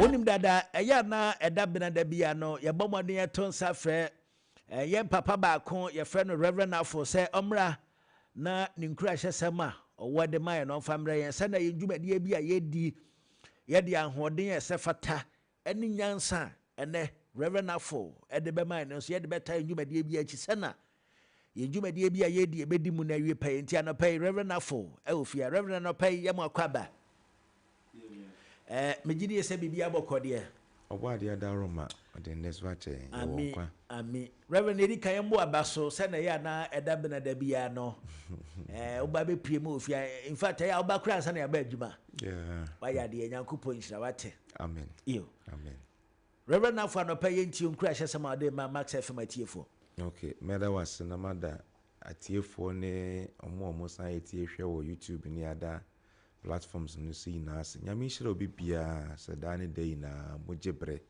Wonim dada ɛyɛ a na ɛda bena da bi a no yɛbɔ mmɔden yɛto nsa frɛ yɛn papa baako yɛfrɛ no Reverend Afo sɛ ɔmmra na ne nkurahyɛsɛm a ɔwɔ de ma yɛn no ɔmfa mmerɛ yɛn sɛnea yɛn dwumadie bi a yɛdi yɛde ahoɔden a ɛsɛ fata ne nyansa a ɛnnɛ Rev. Afful de bɛmae no nso, yɛde bɛtaa yɛn dwumadie biara akyi. Sɛ na yɛn dwumadie bi a yɛredi ɛbɛdi mu na awie pɛyɛ nti, anɔpa yi Rev. Afful wɔ fie ha. Rev. Anɔpa yi yɛ mo akɔ aba. Ɛɛ, megye die sɛ biribiara bɔkɔ deɛ. Ɔbɔadeɛ Ada Roma ɔde nnɛsoɔ akyɛ yɛn. Yɛwɔ nkwa. Amen. Amen. Rev. Nea edi kan mmoa ba so sɛ na ɛyɛ a na ɛda bena da biara no ɛɛ wo ba bepue mu wɔ fie in fact ɛyɛ a wo ba koraa ansa na yɛaba adwuma wayɛ adeɛ nyankopɔn nhyira wate amen yo amen Reverend Nafo anɔpa yɛ ntie nkura hyɛ sɛm a ɔde ma Max FM atiefoɔ ok mɛda wase na mada atiefoɔ ne ɔmo a ɔmo san yɛ tie hwɛ wɔ YouTube ne ada platforms no so nyinaa ase nyame nhyira obi biara sɛ daa ne da nyinaa mogye berɛ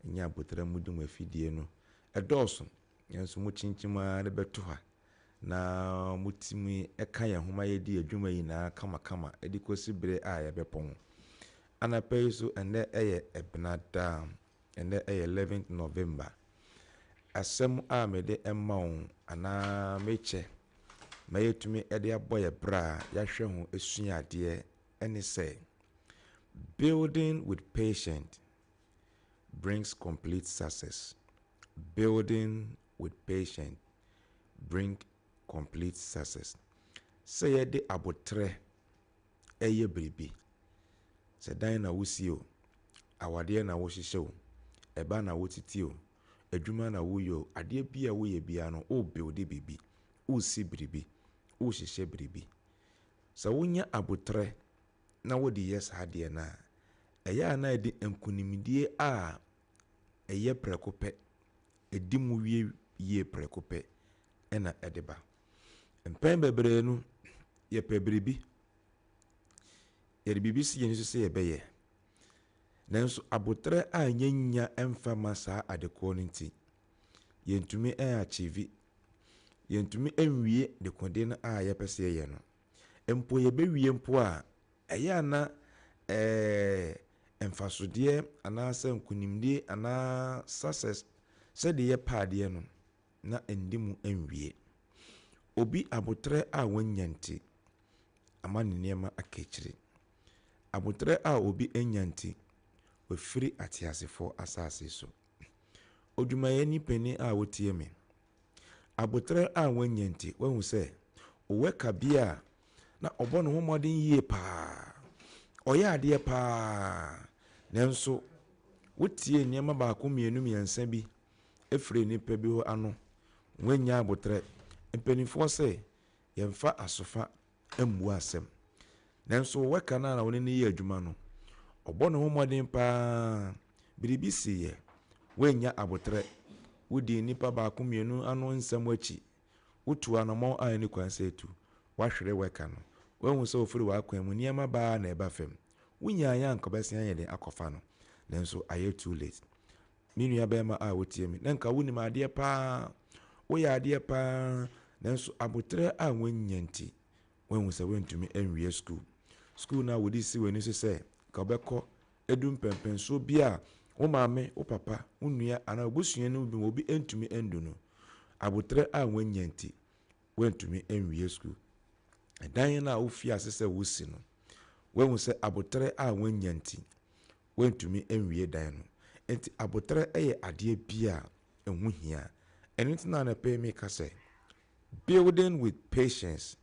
ɛnyɛ abotare mudi mu afidie no. Ɛdɔɔso, nanso mokyinkyim ara de bɛto ha, na motumi ka yɛn ho ma yɛdi adwuma nyinaa kamakama de kɔsi bere a yɛbɛpɔ ho. Anapa yi so, ɛnnɛ yɛ Ɛbenada, ɛnnɛ yɛ eleventh November. Asɛm a mede ma wo anaa mekyɛ ma yɛatumi de abɔ yɛn bra a yɛahwɛ ho sua adeɛ ne sɛ, Building with patient, brings complete success, building with patience bring complete success. Sɛ yɛde aboterɛ ɛyɛ biribi, sɛ dan na wosi o, awadeɛ na wohyehyɛ o, ɛba na wotiti o, adwuma na woyɛ o, adeɛ bi a woyɛ biara no wo builde biribi, wosi biribi, wohyehyɛ biribi. Sɛ wonya aboterɛ na wode yɛ saa adeɛ no a, ɛyɛ a na ɛde nkonimdie a ɛyɛ prɛko pɛ, ɛdi mu wie yie prɛko pɛ na ɛde ba. Mpɛn bebree no, yɛpɛ biribi, yɛde biribi si yɛn so sɛ yɛbɛyɛ, nanso aboterɛ a yɛnnya mfa ma saa adekorɔ no nti, yɛntumi achieve, yɛntumi nwie dekode no a yɛpɛ sɛ yɛyɛ no. Mpo yɛbɛwie mpo a, ɛyɛ a na ɛɛ mfasodeɛ anaasɛ nkonimdie anaa success sɛdeɛ yɛpɛ adeɛ no, na ɛndi mu nwie. Obi aboterɛ a wannya nti, ama ne nneɛma aka akyire. Aboterɛ a obi annya nti, wafiri ateasefoɔ asase so. Odwumayɛni panin a wotie me, Aboterɛ a wanya nti, wahu sɛ ɔwɔ kabea a na ɔbɔ ne ho mmɔden yie pa ara, ɔyɛ adeɛ pa ara, nanso wotiee nneɛma baako mmienu mmiɛnsa bi firii nnipa bi hɔ ano, wannya aboterɛ. Mpanimfoɔ se, yɛmfa asofa ammua asɛm. Nanso wɛka no ara na ɔne no yɛ adwuma no, ɔbɔ ne ho mmɔden pa ara. Biribi siiɛ. Woannya aboterɛ. Wodii nnipa baako mmienu ano nsɛm akyi. Wotuu anammɔn a ɛnni kwan sɛ ɛtu. Woahwere wɛka no. Woahu sɛ ɔfiri w'akwan mu. Nneɛma ba ara na ɛba fam. Wonyaa yɛ anka wobɛsan ayɛ dɛn akɔfa no? Nanso ayɛ too late. Me nua barima a wotie me, na nka wonim adeɛ paa, woyɛ adeɛ paa, nanso aboterɛ a woanya nti, woahu sɛ woantumi anwie sukuu. Sukuu no a wode si w'ani so sɛ nka wobɛkɔ adu mpɛmpɛnsoɔ bi a wo maame, wo papa, wo nua anaa w'abusua no bi mu obi antumi andu no, aboterɛ a woanya nti, woantumi anwie sukuu. Ɛdan no a wofii ase sɛ wosi no, woahu sɛ aboterɛ a woanya nti, wɔantumi anwie dan no. Enti aboterɛ yɛ adeɛ bi a ɛho hia. Ɛno nti na anɔpa yi meka sɛ, Building with patience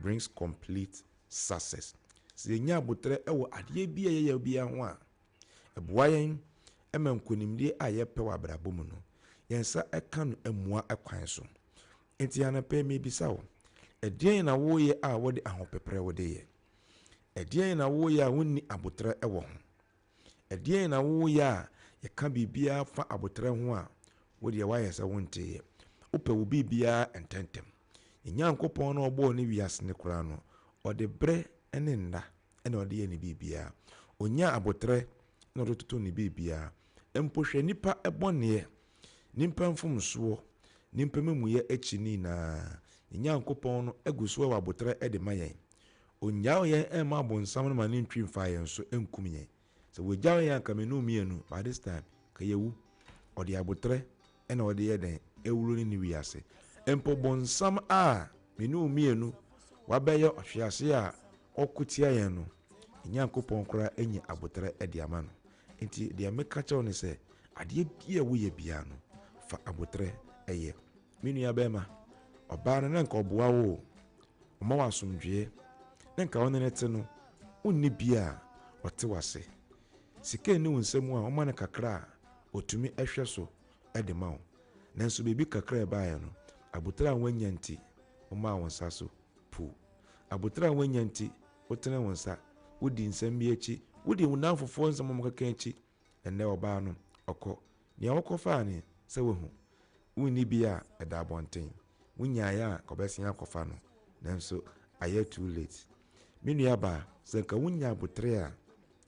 brings complete success. Sɛ yɛnya aboterɛ wɔ adeɛ bi a yɛyɛ biara ho a, ɛboa yɛn ma nkonimdie a yɛpɛ wɔ abrabɔ mu no, yɛn nsa ka no mmua kwan so. Enti anɔpa yi mebisa wo, ɛdeɛn na woreyɛ a wode ahopeprɛ wode yɛ? Ɛdeɛn na woyɛ a wonni aboterɛ wɔ ho? Ɛdeɛn na woyɛ a yɛka biribiara fa aboterɛ ho a, wo deɛ woayɛ sɛ wonteeɛ? Wopɛ wo biribiara ntɛmntɛm. Yɛn Nyankopɔn no a ɔbɔɔ ne wiase no koraa no, ɔde berɛ ne nna na ɔde yɛ ne biribiara. Ɔnyaa aboterɛ na ɔde totoo ne biribiara. Mpo hwɛ nnipa bɔneɛ, nnipa mfomsoɔ, nnipa amamuyɛ akyi no nyinaa, yɛn Nyankopɔn no gu so wɔ aboterɛ de ma yɛn. Onnyaw yɛn mma abonsam no ma no ntwi mfa yɛn so nkum yɛn. Sɛ wogyaw yɛn a anka me ne wo mmienu, by this time, ka yɛawu. Ɔde aboterɛ na ɔde yɛ dɛn? Awuro ne ne wiase. Mpo bonsam a me ne wo mmienu wabɛyɛ ɔhwease a ɔko tia yɛn no, Nyankopɔn koraa anya aboterɛ de ama no. Enti deɛ meka kyerɛ wo ne sɛ, adeɛ biara a woyɛ biara no, fa aboterɛ yɛ. Me nua barima, ɔbaa no na nka ɔboa wo o, ɔma wo asomdwoeɛ, na nka wo ne no te no, wonni bi a ɔte w'ase. Sika nni wo nsa mu a, woma no kakra a ɔtumi hwɛ so de ma wo. Nanso biribi kakra a ɛbaeɛ no, abotire a woannya nti, womaa wo nsa so puu. Abotire a woannya nti, wotene wo nsa, wodi nsɛm bi akyi, wodi wo nnamfofoɔ nsɛm a wɔkeka akyi. Ɛnnɛ ɔbaa no, ɔkɔ. Nea wokɔfaa no sɛ woahu. Wonni bi a, ɛda abɔnten. Wonyaeɛ a, anka wɔbɛsen akɔfa no. Nanso ayɛ too late. Me nuabaa, sɛ anka wonya abotire a,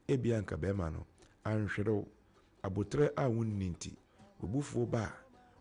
ebia anka barima no anhwere wo. Abotire a wonni nti, w'abufuo ba a,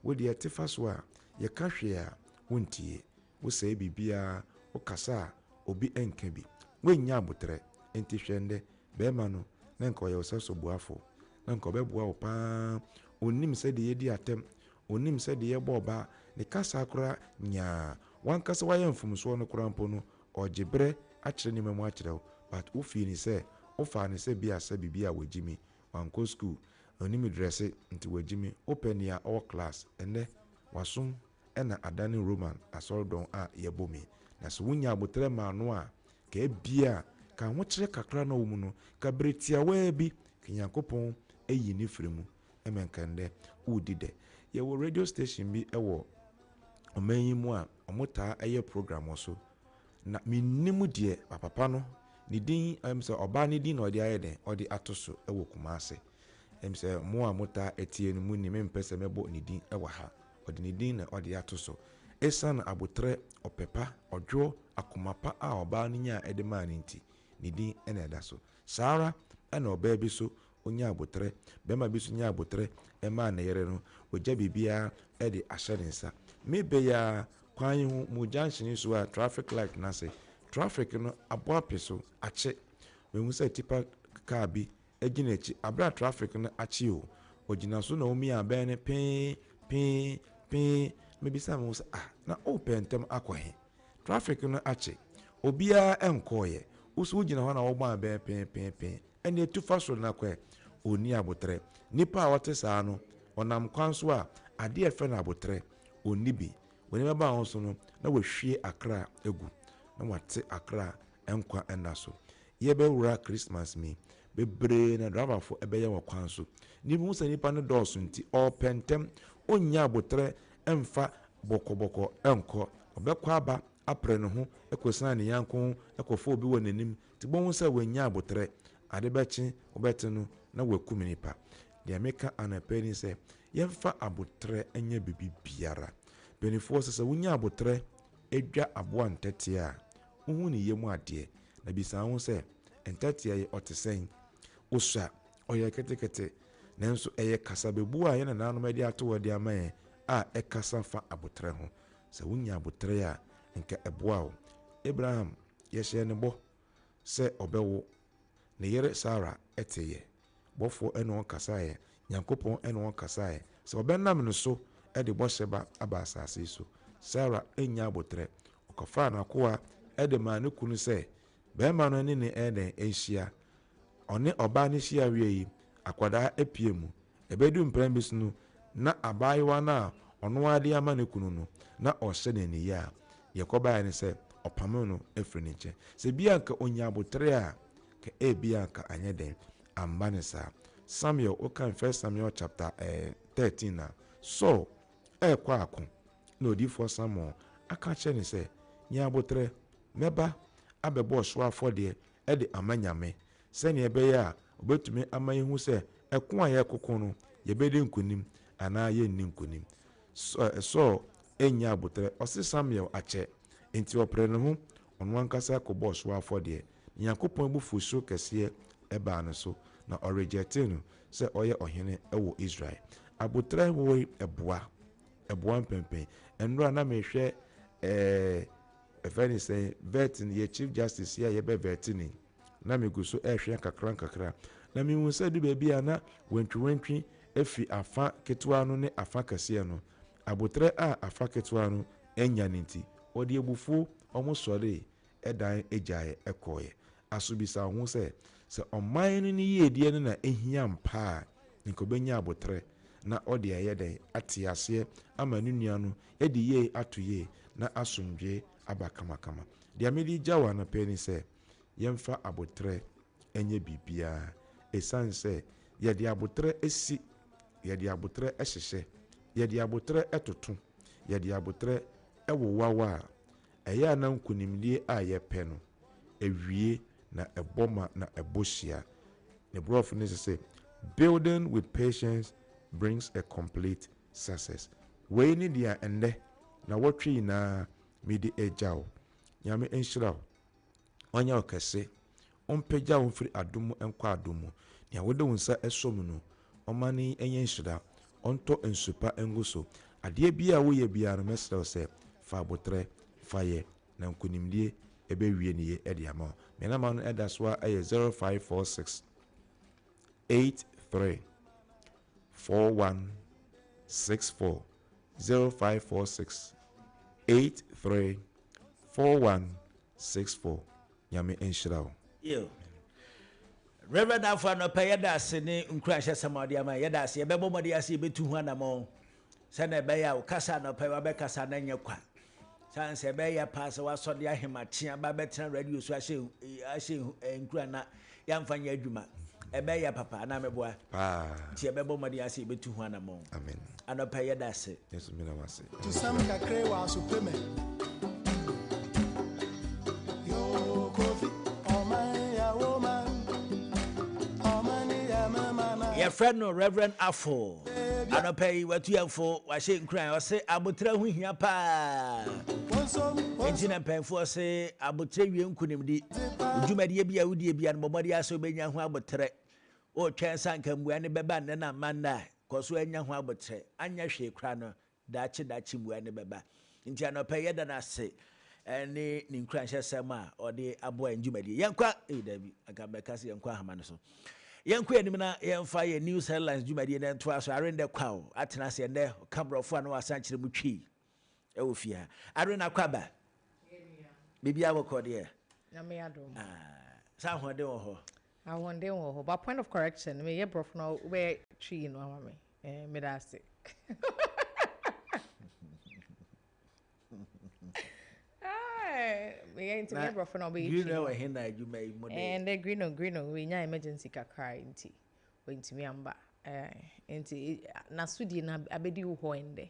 wo deɛ te fa so a, yɛka hwee a, wontie. Wosɛe biribiara, wokasa a, obi nka bi. Woannya aboterɛ. Enti hwɛ ɛnnɛ, barima no, na anka ɔyɛ wo sɛ soboafoɔ. Na anka ɔbɛboa wo pa ara. Ɔnnim sɛdeɛ yɛdi atɛm. Ɔnnim sɛdeɛ yɛbɔ ɔbaa. Ne kasa koraa, nyaa. W'ankasa woayɛ mfomsoɔ no koraa mpo no, ɔregye berɛ akyerɛ nneɛma mu akyerɛ wo. But wo fii no sɛ, wofaa no sɛ bi a sɛ biribi a wagyimi. Wankɔ school. Ɔnnim dresse, nti wagyimi. Wopɛ nea ɔwɔ class. Ɛnnɛ, wasom na adane Roman asɔredɔn a yɛbom yi, na sɛ wonyaa aboterɛ maa no a, nka ebia, nka ahokyerɛ kakra a na ɔwɔ mu no, nka bere tiawaa bi, nka Nyankopɔn ayi no afiri mu, ma nka ɛnnɛ woredi dɛ. Yɛwɔ radio station bi wɔ ɔman yi mu a wɔtaa yɛ program wɔ so, na mennim deɛ papa no ne din, ɛm sɛ ɔbaa ne din na ɔde ayɛ dɛn, ɔde ato so wɔ Kumase. Ɛm sɛ mo a motaa tie no monim, mempɛ sɛ mɛbɔ ne din wɔ ha. Ɔde ne din na ɔde ato so. Esiane abotare, ɔpɛ pa, ɔdwoɔ, akoma pa a ɔbaa no nyaa de maa no nti, ne din na ɛda so. Saa ara na ɔbaa bi nso nya abotare, barima bi nso nya abotare maa ne yere no, ɔgya biribiara de ahyɛ ne nsa. Me bɛ yi ara, kwan yi ho, mo junction so a, traffic light no ase, traffic no abɔ ape so, akye. Mahu sɛ tipa car bi Egyina akyi abrɛ a traffic no akye o Ogyina so na omia abɛn no pee, pee, pee Mebisa me ho sɛ ah, na worepɛ ntɛm akɔ he? Traffic no akye, obiaa nkɔɔeɛ Wo so wogyina hɔ na wɔbɔ abɛn pee, pee, pee Ɛneɛ tu fa soro na kɔ ɛ Onni aboterɛ Nipa a ɔte saa no ɔnam kwan so a Adeɛ a yɛfrɛ no aboterɛ onni bi W'ani bɛba wo so no na wahwie akra agu Na wate akra nkwa nna so Yɛrebɛwura Christmas mu yi, bebree na drabafo bɛyɛ wɔ kwan so. Nnipa hu sɛ nnipa no dɔɔso nti, ɔrepɛ ntɛm, onnya aboterɛ mfa bɔkɔbɔkɔ nkɔ. Ɔbɛkɔ aba apere ne ho kosian ne yanko ho kɔfa obi wɔ n'anim te bohu sɛ wannya aboterɛ. Ade bɛkye, wobɛte no na wakum nnipa. Deɛ meka anɔpa yi ne sɛ, yɛmfa aboterɛ nyɛ biribiara. Mpanimfoɔ sɛ sɛ wonya aboterɛ dwa aboa ntɛtea a, Wohu ne yam adeɛ. Na bisa wo ho sɛ, Ntɛtea yi, ɔte sɛn? Osua, ɔyɛ ketekete. Nanso ɛyɛ kasabebu a yɛn nanaanom de ato hɔ de ama yɛn a ɛkasa fa aboterɛ ho. Sɛ wonya aboterɛ a, anka ɛboa wo. Abraham, yɛhyɛɛ no bɔ sɛ ɔbɛwo. Ne yere Sara teeɛ. Bɔfoɔ ne wɔn kasaeɛ, Nyankopɔn ne wɔn kasaeɛ, sɛ wɔbɛnam ne so de bɔhyɛ ba aba asaase yi so. Sara nnya aboterɛ. Ɔkɔfaa n'akoa de maa ne kunu sɛ, barima no ne ne dɛn, nhyia. Ɔne ɔbaa no hyia wie yi, akwadaa apue mu. Ɛbɛdu mprɛn bi so no, na abaayewa no a ɔno ara de ama ne kunu no, na ɔrehyɛ no aniyaa. Deɛ ɛkɔbaeɛ ne sɛ, ɔpamoo no firii ne nkyɛn. Sɛ bi a anka ɔnya aboterɛ a, Ka ebia anka anyɛ den amma no saa. Samuel, wokan First Samuel chapter eh, thirteen a, Saul rekɔ ako na odiyifoɔ Samuel aka akyerɛ no sɛ, Nya aboterɛ, mɛba abɛbɔ ɔhyew afɔdeɛ de ama Nyame, sɛdeɛ ɛbɛyɛ a ɔbɛtumi ama yɛahu sɛ ɛko a yɛrekoko no, yɛbɛdi nkonim anaa yɛrenni nkonim. Saul nnya aboterɛ, ɔse Samuel akyɛ, enti ɔpere ne ho, ɔno ankasa kɔbɔ ɔhyew afɔdeɛ. Nyankopɔn abufuwhyew kɛseɛ baa no so, na ɔregyɛɛtee no sɛ ɔyɛ ɔhene wɔ Israel. Aboterɛ horoe boa, ɛboa mpɛnpɛn. Nnora na mehwɛ ɛɛ ɛfɛ ne sɛn, vɛɛte no, yɛ Chief Justice yi a yɛbɛ vɛɛte no yi, na megu so ɛrehwɛ nkakra nkakra, na mehu sɛ adu baabi a na wantwiwantwi afiri afa ketewa no ne afa kɛseɛ no. Aboterɛ a afa ketewa no anya no nti, ɔde abufuo, wɔsɔree dan gyae kɔeɛ. Aso bisa wo ho sɛ, sɛ ɔman no ne yiedie no na ɛhia ampa a, nka ɔbɛnya aboterɛ na ɔde ayɛ dɛn ate aseɛ ama ne nua no de yei ato yie na asomdwoeɛ aba kamakama? Deɛ mede regya wo anɔpa yi ne sɛ, yɛmfa aboterɛ nyɛ biribiara. Ɛsiane sɛ yɛde aboterɛ si, yɛde aboterɛ hyehyɛ, yɛde aboterɛ toto, yɛde aboterɛ wowaw a, Ɛyɛ a na nkonimdie a yɛpɛ no, ɛwie na ɛbɔ ma na ɛbɔ hyia. Ne brɔfo no se sɛ, Building with patience brings a complete success. Wei ne deɛ ɛnnɛ, nawɔtwe nyinaa mede regya wo. Nyame nhyira wo. Ɔnyɛ wo kɛse. Ɔmpagya wo mfiri adom mu nkɔ adom mu. Nea wode wo nsa sɔ mu no, ɔmma no nyɛ nhyira. Ɔntɔ nsu pa ngu so. Adeɛ biara a woyɛ biara no, mɛsrɛ wo sɛ, fa aboterɛ fa yɛ, na nkonimdie bɛwie no yie de ama wo. Me namba no da so ara yɛ zero five four six eight three four one six four zero five four six eight three four one. Six four Nyame nhyira wo. Yiw. Rev. Afo anɔpa yi yɛda ase ne nkuranhyɛsɛm a ɔde ama yɛn. Yɛda ase. Yɛbɛbɔ mmɔden ase yebetu ho anammɔn sɛnea ɛbɛyɛ a wo kasa anɔpa yi wabɛkasa na ɛnyɛ kwa. Saa nso ɛbɛyɛ paa sɛ woasɔ de ahemakyea ba abɛtena radio so ahyɛ ahyɛ eh, nkuran na Yɛamfa nyɛ adwuma. Ɛbɛyɛ yɛ papa, anaa meboa? Paa. Nti yɛbɛbɔ mmɔden ase yɛbɛtu ho anamɔn. Amen. Anɔpa yi yɛda ase. Yesu mina wo ase. Tusɛm kakre wɔ asopɛ mɛ. Yoo Kofi, ɔman ya wo man, ɔman ya me man a. Yɛfrɛ no Rev. Afo. Anɔpa yi watu yɛn fo, wahyɛ nkuran. Ɔse aboterɛ ho hia paa. Nti na mpanyinfoɔ se Aboterɛ wie nkunimdi. Wo dwumadie bi a wodie bia no bɔ mmɔden ara sɛ wobɛnya ho aboterɛ. Wotwɛn sɛ anka mmuae no bɛba nnɛ na amma nnɛ a, kɔ so ara nya ho aboterɛ. Anyɛ hwee koraa no, daakye daakye mmuae no bɛba. Enti anɔpa yi, yɛda no ase ne ne nkuranhyɛsɛm a ɔde aboa yɛn dwumadie. Yɛnkɔ, ei daabi, anka mɛka sɛ yɛnkɔ ahama no so. Yɛnkɔ anim na yɛmfa yɛn News Headlines dwumadie no ntoa so. Arendɛ Kwaw atena ase ɛnnɛ, ɔka borɔfo a na wasan kyerɛ mu twii. Ɛwɔ fie ha. Arena kɔ aba. Biribi a bɔkɔ deɛ. Nyame adom. Aah sɛ ahoɔden wɔ hɔ. Ahoɔden wɔ hɔ but point of correction me yɛ brɔfo na wo bɛ twi yi no ama me eh me da ase. Aah me yɛ nti me yɛ brɔfo na wo bɛ yɛ twi no. Green wɔ he na adwuma yi mu de. Eh ndɛ green o green o we nya emergency kakra nti we ntumi amba eh nti na so die na abɛdi wo hɔ ndɛ.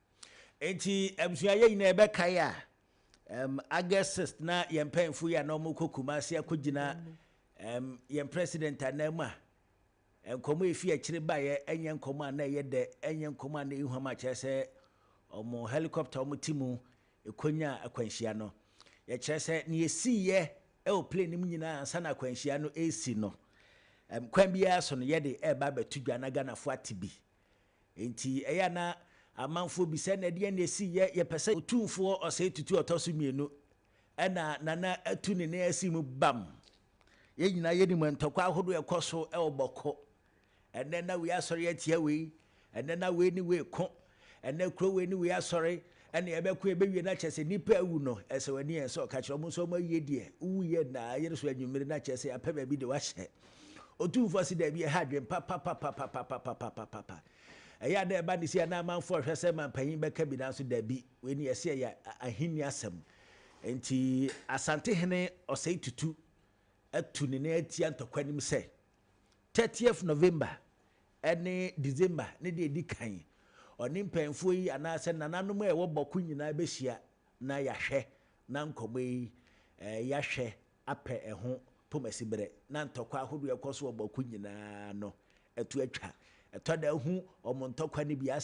Enti abusua yɛ nyinaa yɛbɛkae a, um, August 6 na yɛn mpanyinfo yi a na wɔkɔ Kumasi akɔgyina um, yɛn president anan mu a, nkɔmmɔ a ɛfi akyire baeɛ ɛnyɛ nkɔmmɔ a na ɛyɛ dɛ, ɛnyɛ nkɔmmɔ a na ɛyi hwam akyerɛ sɛ wɔn helicopter wɔn ti mu ɛkɔnya akwanhyia no. Yɛkyerɛ sɛ ne ɛsiiɛ ɛwɔ plane no mu nyinaa ansa na akwanhyia no ɛresi no, um, kwan biara so no yɛde ɛreba abɛto dwa na Ghanafoɔ ate bi. Enti ɛyɛ a na amanfoɔ bisa no, Ɛdeɛn na ɛsii? Yɛ, yɛpɛ sɛ Otumfoɔ ɔsɛe tutuo a ɔtɔ so mmienu. Ɛnna Nana atu ne nan asi mu bam. Yɛn nyinaa yɛnim ntɔkwa ahodoɔ a ɛkɔ so wɔ Bɔko. Ɛnnɛ na wei asɔre atia wei, ɛnnɛ na wei ne wei reko, ɛnnɛ kuro wei ne wei asɔre, Ɛnna ɛbɛko ɛbɛwie na kyerɛ sɛ nnipa awu no, ɛsɛ w'ani yɛ nsɔ, ka kyerɛ wɔn sɛ wɔawie deɛ, wowuiɛ nnɛ a, yere so anwummere na kyerɛ sɛ yɛapɛ baabi de wo ahyɛ. Otumfoɔ se, Dabi, ɛha adwene pa papapapapapapapapapa. Ɛyɛ a na ɛba ne sei a na amanfoɔ hwɛ sɛ mampanyin bɛka bi nanso dabi, wei ne ɛse ɛyɛ ahenni asɛm. Enti Asantehene Osei Tutu atu ne nan atia ntɔkwa no mu sɛ, 30th November Ɛne December ne deɛ ɛdi kan. Ɔne mpanimfoɔ yi anaasɛ nananom a ɛwɔ bɔ ko nyinaa bɛhyia na yɛahwɛ na nkɔmmɔ yi yɛahwɛ apɛ ɛho pomasiberɛ na ntɔkwa ahodoɔ a ɛkɔ so wɔ bɔ ko nyinaa no to atwa. Ɛtɔ da hu wɔn ntɔkwa no bi asɛm.